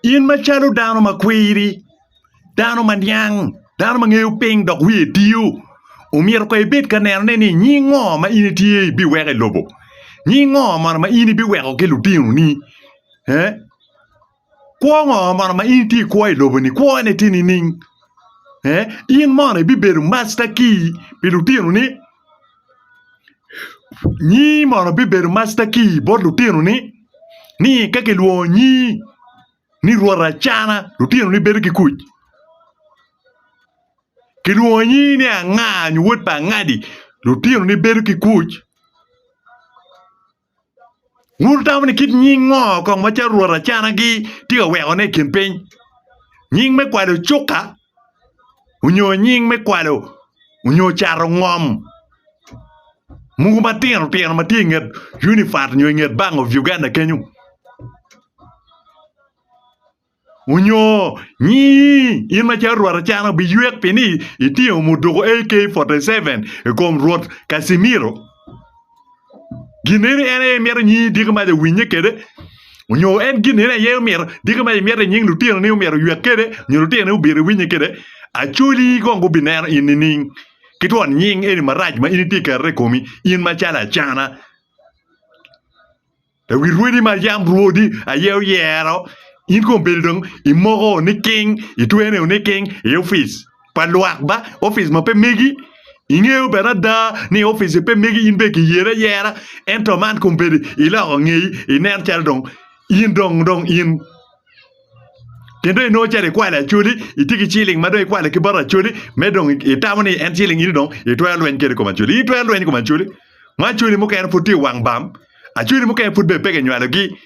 In macalo dano ma kwiri, dano ma niang, dano ma ngeyo piny dok wiye tiyo, omyero kong ibed ka nenone ni nying ngo ma in itye ibiweko i lobo? Nying ngo mono ma in ibiweko ki lutinoni? Ee? Kwo ngo mono ma in itye ikwo i lobo-ni? Kwone tye nining? Ee? In mono ibibedo masta-ki pi lutinoni? Nyi mono bibedo masta kii bot lutino ni ni ka kilwongo nyi ni rwot acana lutino ni bedo ki kuc kilwongo nyi ni anga nyo wod pa angadi lutino ni bedo ki kuc. Wutamo ni kit nying ngo kong ma carwot acanagi tye ka weko ne i kin piny? Nying me kwalo cuka onyo nying me kwalo onyo cato ngom mogo matino tino matye i nget unifat onyo i nget bank of Uganda kenyo? Onyo nyi in macalo rwot acana wubiywek pi ni itingo muduku AK-47 i kom Rwot Casimiro? Gin eni en aye imito nyi diki mac owinye kede? Onyo en gin eni aye omito diki mac imito i nying lutino ni omito ywek kede nyo lutino ni obito iwinye kede? Acholi kong gubineno in nining? Ki twon nying eni marac ma in itye keto i komi, in macalo acana? I wi rwodi ma yam Rwodi aye oyero, in kong bedo dong imoko niking, itwene niking i opic pa lwak ba opic ma pe megi. Ingeyo bene ada ni opic-ci pe megi, in bene kiyeri ayera. Ento man kong bedo iloko ngeyi, inen calo dong in dong in. Gin dong inongo calo ikwalo Acholi, itye ki ciling ma dong ikwalo ki bot Acholi me dong itamo ni en ciling in dong itwero lweny kwede i kom Acholi. In itwero lweny i kom Acholi ma Acholi mukene pud tye i wang bam, Acholi mukene pud bene peya kinywalogi.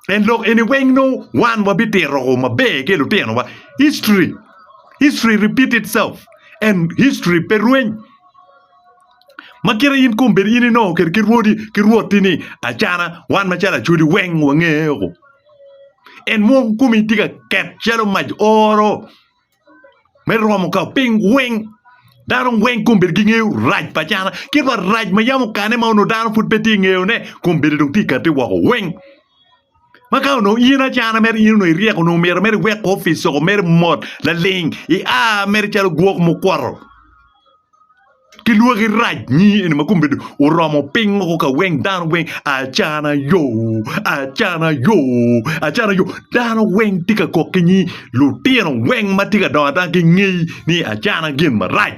En lok eni weng nongo wan wabitito woko maber ki i lutinowa. History, history repeat itself and history pe rweny. Ma kite in kombeddi in inongo kede ki rwodi ki rwotti ni acana wan macalo Acholi weng wangeye woko. En mwoko komi tye ka ket calo mac oro me romo ka piny weng. Dano weng kong bed ki ngeyo rac pa cana ki pa rac ma yam okane ma onongo dano pud pe tye ngeyo ne kong bedi dong tye kati woko weng. Ma ka onongo in acana mere in onongo iryeko onongo myero mere iwek ko opic soko mere mot laling i a mere calo gwok mukwoto. ki lwaki rac nyi eni ma komgi oromo piny woko ka weng dano weng acana yo acana yo acana yo dano weng tye ka kok ki nyi lutino weng ma tye ka dongo adonga gingeyi ni acana gin marac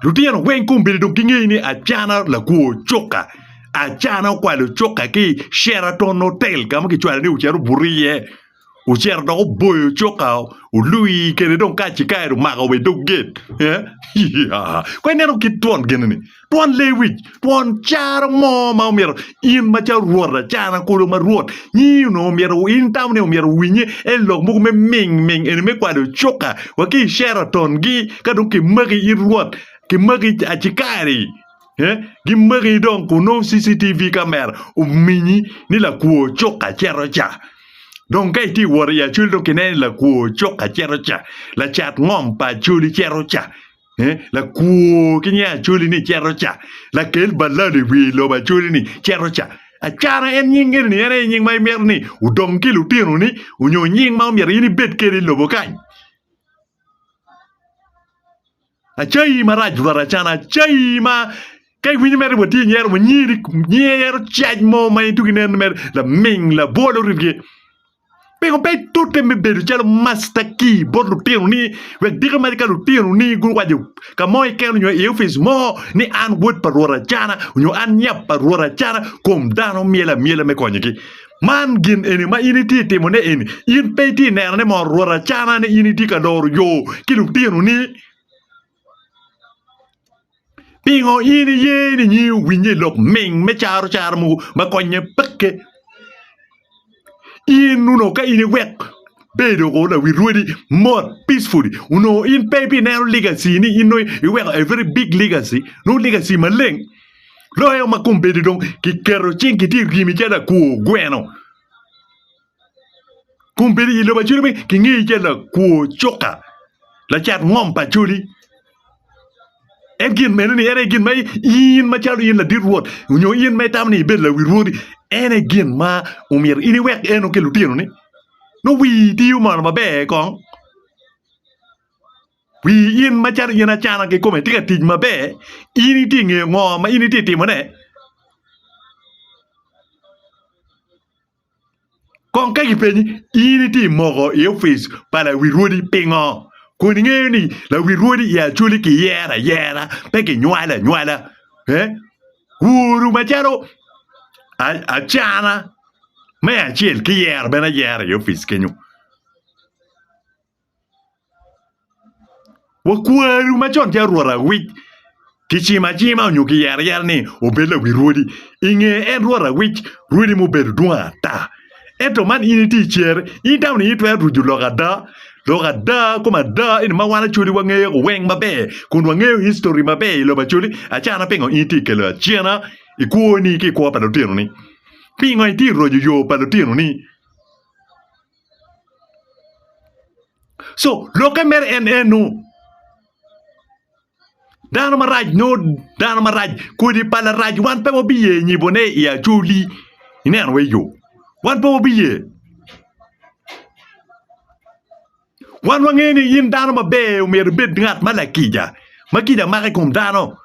lutino weng kombeddi dong gingeyi ni acana lakwo cuka acana okwalo cuka ki i Sheraton hotel ka ma kicwalo ni ocito obuto iye. ocito dok oboyo cukka olwii kede dong kacikaeri omako wa i dog gate eh iyaa kong ineno kit twon gin eni twon lee wic twon caro mo ma omyero in macalo rwot lacana kulu ma rwot nyingi onongo myero in itamo ni myero owinye en lok mogo me ming ming eni me kwalo cukka wa ki i Sheraton gi ka dong kimaki in rwot kimaki acikaeri. Gimaki dong kun nongo CCTV kamera ominyi ni lakwor cuka cito ca. Dong ka itye ka wot i Acoli dong kineno ni lakwor cuka cito ca, lacat ngom pa Acoli cito ca, lakwor ki nying Acoli ni cito ca, lakel balado i wi lobo Acoli ni cito ca. Acara en nying eni en aye nying ma imito ni odong ki lutinoni nyo nying ma omyero in ibed kwede i lobo kany? Acayi marac rwatacana acayi ma ka iwinyo mere watye inyero wa nyiri nyero cac mo ma in tuk ineno mere laming labwol oribgi pingo pe itute me bedo calo masta ki bot lutino ni wek diki mac ka lutino ni guwaco ka mo keken onyo i opic mo ni an wod pa rwot acana onyo an nyap pa rwot acana kom dano myel amyela me konyogi. Man gin eni ma in itye ka timone eni, in pe itye ka neno ni mono rwot acana ni in itye ka loro yo ki lutinoni? Pingo in iye ni nyingi owinnye i lok ming me carocara mogo ma konnye? Peke! In onongo ka in iwek bedo woko lawi rwodi mot peacefully onongo in pe ibineno legacy ni in nongo iweko a very big legacy nongo legacy maleng. Loyo ma kombeddi dong kiketo cing kitye i ryemi calo lakwo gweno. Kombeddi i lobo acoli kingeyi calo lakwo cuka, lacat ngom pa acoli. En gin meno ni en aye gin ma in macalo in ladit Rwot nyo in ma itamo ni ibed lawi rwodi, en aye gin ma omyero in iwek eno ki lutinoni. Nongo wii tiyo mono maber kong. Wi in ma cani yen acana kikome tye ka tic maber, in itye nge ngo ma in itye timo ne? Kong ka kipenyi in itye moko i ofice pa lawir rwodi pingo? Kun ingeyo ni lawir rwodi i Acholi ki yero ayera pe ki nywalo anywala he? Woru ma calo acana me acel ki yero bene ayera i ofice kenyo. Wakwaru ma con ki arwot awic kicimo acima onyo kiyero ayera ni obed lawi rwodi. I nge en rwot awic, rwodi mubedo dwong ata. Ento man in itye i cere, in dano ni itwero ruco lok ada, lok ada kom ada eni ma wan Acholi wangeyo weng maber kun wangeyo history maber i lobo Acholi. Acana pingo in itye kelo acena i kwoni ki i kwo pa lutino ni? Pingo itye roco yo pa lutino ni? co lokke mere en eno dano marac nyo dano marac kodi pa larac wan pe wabiye nyibone i acholi ineno wai yo wan pe wabiye wan wangeyo ni in dano maber myero ibed ngat ma lakica ma kica mako i kom dano.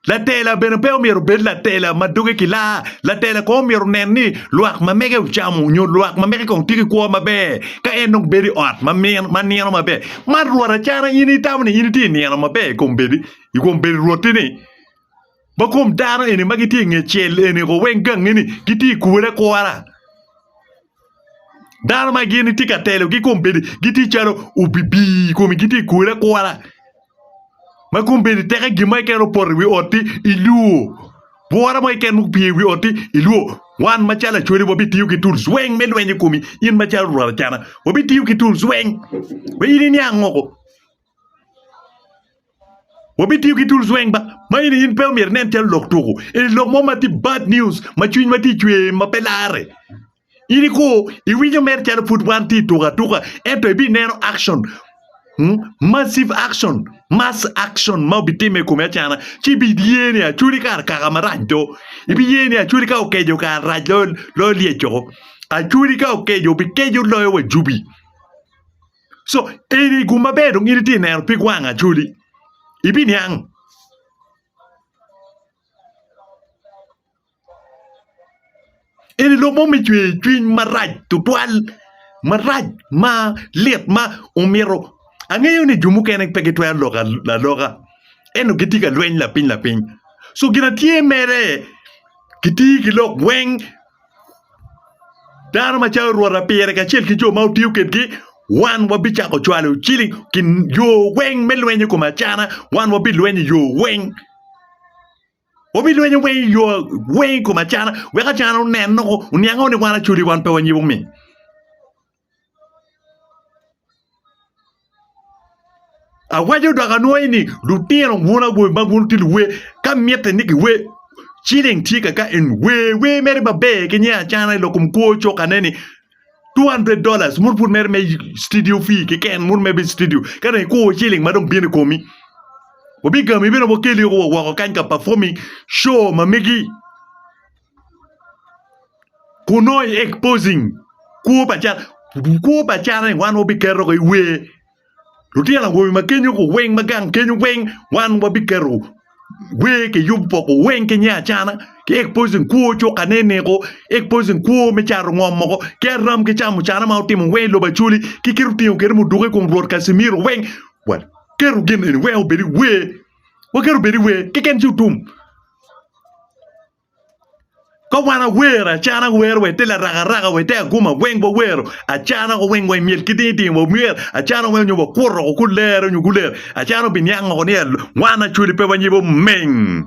Latela bene pe omyero obed latela ma doge kilaa. Latela kong omyero onen ni lwak ma mege ocamo nyo lwak ma mege kong tye ki kwo maber ka en dong bedo i ot ma nino maber. Man rwot acana in itamo ni in itye nino maber i kom bedi i kom bedo rwoti-ni? Ma kom dano eni ma gitye i nge cel eni ko weng gangi-ni gitye i kure akura? Dano ma gin itye ka telogi kombeddi gitye calo obibii i komi gitye ka kwele akwala ma kombeddi teke gin mo keken opoto i wi otti ilwor bwura mo keken ma opye i wi otti ilwor wan macalo lacwale wabitiyo ki tools weng me lweny i komi in macalo rwot acana wabitiyo ki tools weng ma in iniang woko. Wabitiyo ki tools weng ma in in pe omyero inen calo lok tuku. Eni lok mo ma tye bad news ma cwiny ma tye i cwer ma pe larre. In iko iwinyo mere calo pud wan tye i tuku atuka ento ibi neno action massive action mass action ma obitimme i kome acana ci ibi ye ni Acholi kara kaka marac do. Ibi ye ni Acholi ka okeco kara rac loyo lyecco. Acholi ka okeco obikeco loyo wa jubi. co eni gum maber dong in itye neno pig wang acholi ibiniang eni lok mo me cwer cwiny marac tutwal marac ma lit ma omyero angeyo ni jo mukene pe gitwero lok aloka ento gitye ka lweny lapiny lapiny co gin atye mere kiti ki lok weng Dano macalo rwota pire kacel ki jo ma otiyo kwedgi wan wabicako cwalo ciling yo weng me lweny i kom acana wan wabilwenyo i yo weng wabilwenyo weng i yo weng i kom acana wek acana onen-noko oniang-o ni wan acwali wan pe wanyibo mi. Awaco dok anwoyo ni lutino bwuna bwoi ma gin tye luwe ka mitte ni giwe ciling tye kaka eni wer wer mere maber ki nge acana i lok kom kwo cokane ni two hundred dollars muno pud mere me citidio fee keken muno mere me citidio ka dong ikwo ciling ma dong bino i komi wabigami bene wakelio woko kany ka pafoming co ma megi. kun nongo i exposing kwo pa cal kwo pa calani wan wabiketo i wer lutino awobe ma kenyo weng ma gang kenyo weng wan wabiketo wer kiyub poko weng ki nya acana ki exposing kwo cuka ne neko exposing kwo me cato ngom moko ki aram ki camo cana ma wutimo weng i lobo Acholi ki kit otingo kit muduki i kom Rwot Kacimiro weng waketo gin eni weng obed i wer waketo obed i wer keken ci otum. Ka wan awer acana wero wa ite larakaraka wa ite aguma weng wawero acana wa weng wa imyel ki ding ding wa myel acana weng nyo wakuto woko ku lere nyo guleyo acana wa biniang woko ni wan Acholi pe wanyibo meng.